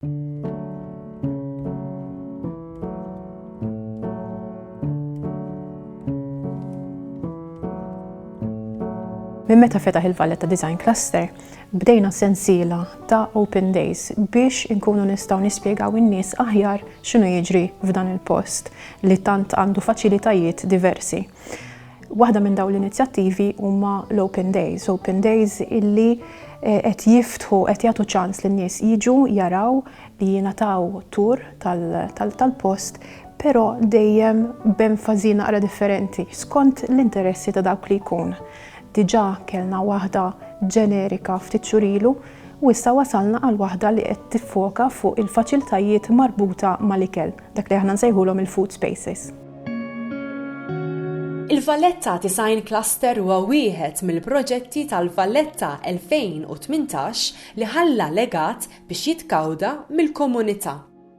Minn meta fetaħ il-Valletta Design Cluster, bdejna sensiela ta' Open Days biex inkunu nistgħu nispjegaw in-nies aħjar x'inhu jiġri f'dan il-post li tant għandu faċilitajiet diversi. Waħda minn dawn l-inizjattivi huma l-Open Days, Open Days illi eh, qed jiftħu qed jagħtu ċans lin nies jiġu jaraw li jingħataw tur tal-post però dejjem b'enfażi naqra differenti skont l-interessi ta' dawk li jkun. Diġà kellna waħda ġenerika ftit xurilu u issa wasalna għal waħda li qed tiffoka fuq il-faċiltajiet marbuta mal-ikel, dak li aħna nsejħulhom il-food spaces. Il-Valletta Design Cluster huwa wieħed mill-proġetti tal-Valletta 2018 li ħalla legat biex jitkawda mill-komunità.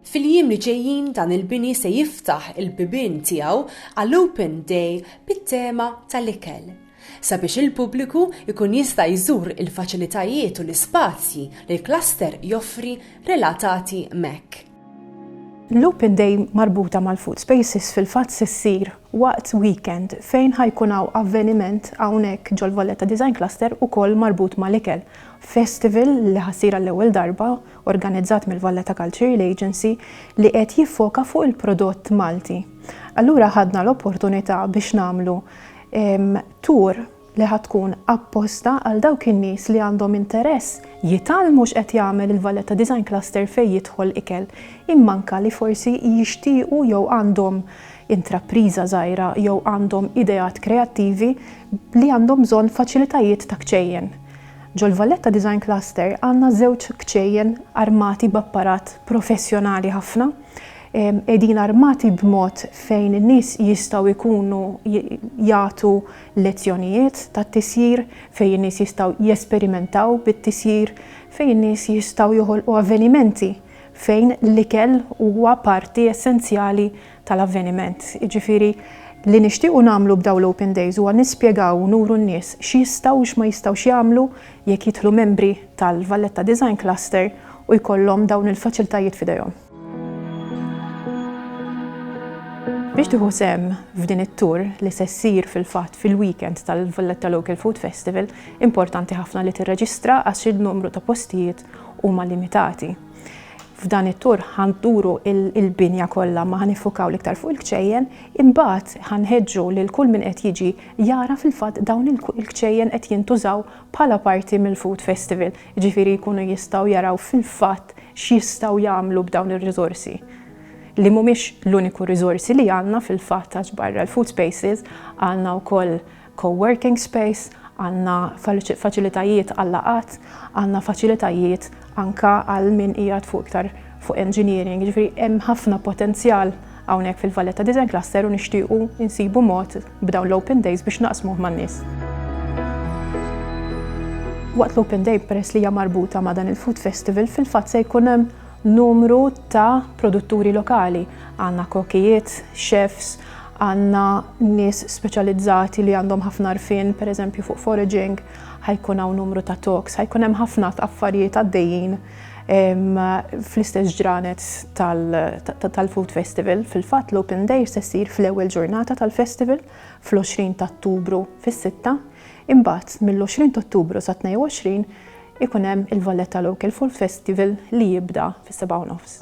Fil-jiem li ġejjin dan il-bini se jiftaħ il-bibien tiegħu għal Open Day bit-tema tal-ikel, sabiex il-pubbliku jkun jista' jżur il-faċilitajiet u l-ispazji li l-cluster joffri relatati m'hekk. L-Open Day marbuta mal-Food Spaces fil-fatt se ssir waqt weekend fejn ħa jkun hawn avveniment hawnhekk ġol-Valletta Design Cluster ukoll marbut mal-ikel. Festival li ħa ssir għall-ewwel darba organizzat mill-Valletta Cultural Agency li qed jiffoka fuq il-prodott Malti. Allura ħadna l-opportunità biex nagħmlu tour li ħa tkun apposta għal dawk in-nies li għandhom interess jitgħallmu x'qed jagħmel il-Valletta Design Cluster fejn jidħol ikel, imma anke li forsi jixtiequ jew għandhom intrapriża żgħira jew għandhom ideat kreattivi li għandhom bżonn faċilitajiet ta' kċejjen. Ġol-Valletta Design Cluster għandna żewġ kċejjen armati b'apparat professjonali ħafna, qegħdin armati b'mod fejn in-nies jistgħu jkunu jagħtu lezzjonijiet tat-tisjir fejn in-nies jistgħu jesperimentaw bit-tisjir, fejn in-nies jistgħu joħolqu avvenimenti fejn l-ikel huwa parti essenzjali tal-avveniment. Jiġifieri, li nixtiequ nagħmlu b'dawn l-Open Days huwa nispjegaw u nuru n-nies x'jistgħu u x'ma jistgħux jagħmlu jekk jidħlu membri tal-Valletta Design Cluster u jkollhom dawn il-faċiltajiet f'idejhom. Biex tieħu sehem f'din it-tour li se ssir fil-fatt fil-weekend tal-Valletta Local Food Festival, importanti ħafna li tirreġistra għax in-numru ta' postijiet huma limitati. F'dan it-tour ħanduru il-binja kollha ma ħanifukaw l-iktar fuq il-kċejjen, imbagħad ħanħeġġu lil kull min qed jiġi jara fil-fatt dawn il-kċejjen qed jintużaw bħala parti mill-Food Festival. jiġifieri jkunu jistgħu jaraw fil-fatt x'jistgħu jagħmlu b'dawn ir-riżorsi li mhumiex l-uniku riżorsi li għandna fil-fatt għax barra l-food spaces għandna wkoll co-working space, għandna faċilitajiet għal laqgħat, għandna faċilitajiet anke għal min qiegħed fuq iktar fuq engineering, jiġifieri hemm ħafna potenzjal hawnhekk fil-Valletta Design Cluster u nixtiequ insibu mod b'dawn l-Open Days biex naqsmuh man-nies. Waqt l-Open Day peress li hija marbuta ma' dan il-Food Festival fil-fatt se jkun hemm numru ta' produtturi lokali. Għandna kokijiet, chefs, għandna nies speċjalizzati li għandhom ħafna għarfien pereżempju fuq foraging, ħajkun hawn numru ta' talks, ħajkun hemm ħafna affarijiet għaddejjin. fl-istess ġranet tal-Food Festival. Fil-fatt l-Open Day se ssir fl-ewwel ġurnata tal-festival fl-20 ta' Ottubru fis-sitta, imbagħad mill-20 ta' Ottubru sa 22 ikun hemm il-Valletta Local Food Festival li jibda fis-sebgħa u nofs.